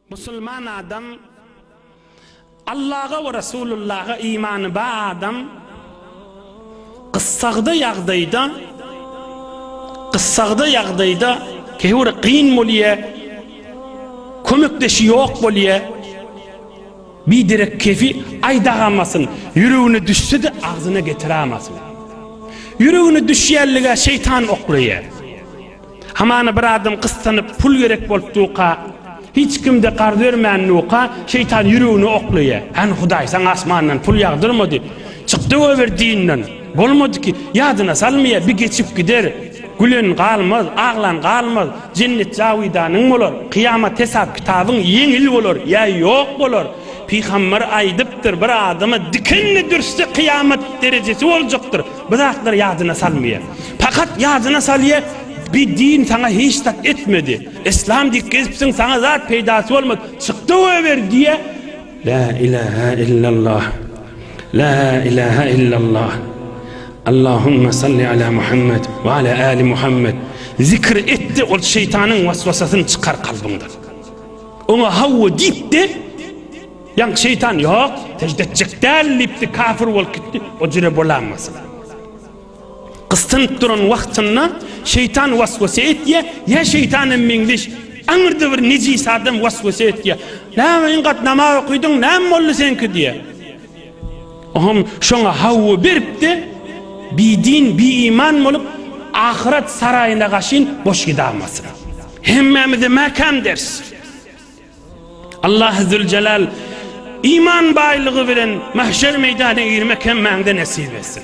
Musulman adam, Allaha we Resulullaha imany ba adam, gyssagda ýagdaýda, gyssagda ýagdaýda, käwir gyn bolýa, kömekdeşi ýok bolýa, bi derek kefi aýdagamasyn, ýüregine düşse-de agzyna getirämasyn. Ýüregine düşýänlige şeýtan oklaýa. Hamana bir adam gyssanyp pul gerek bolup duka, hiç kimde garz bermän duka, şeýtan ýüregine oklaýa. Hany Hudaý saňa asmandan pul ýagdyrmady, çykdy goýber dinden bolmady ki, ýadyna salmaýa, bi geçip gider, gülen galmaz, aglan galmaz, jennet jawidanyň bolar, kyýamat hesap kitabyň ýeňil bolar ýa ýok bolar, pygamber aýdypdyr bir adama dikenli dürsde kyýamat derejesi boljakdyr, Bu zatlar ýadyna salmaýar. Pakat ýadyna salýar, bi din saňa hiç zat etmedi. Yslam dik gezipsiň, saňa zat peýdasy bolmady. Çykda goýber diýýär. La ilaha illallah. La ilaha illallah. Allahumma salli ala Muhammed we ala ali Muhammed. Zikir etde ol şeýtanyň waswasasyny çykar kalbyňdan. Oňa hawa diýip de Ýaňky şeýtan ýok, sežde etjek däl diýipdi, kafir bolup gitdi. O jüre bolanmasyn. Gysynyp duran wagtynda şeýtan waswasa etýä, ýa şeýtan hem meňzeş aňyrda bir nejis adam waswasa etýä. Näme iň gat namaz okydyň, näme boldy seňki diýä. Oňam şoňa hawwa beripdi. Bi din, bi iman bolup ahyret saraýyna gaşyn boş gidamasyn. Hemmämize mäkäm ders. Allah Zülcelal iman baýlygy bilen mahşer meýdana girmek hemmäňde nesip etsin.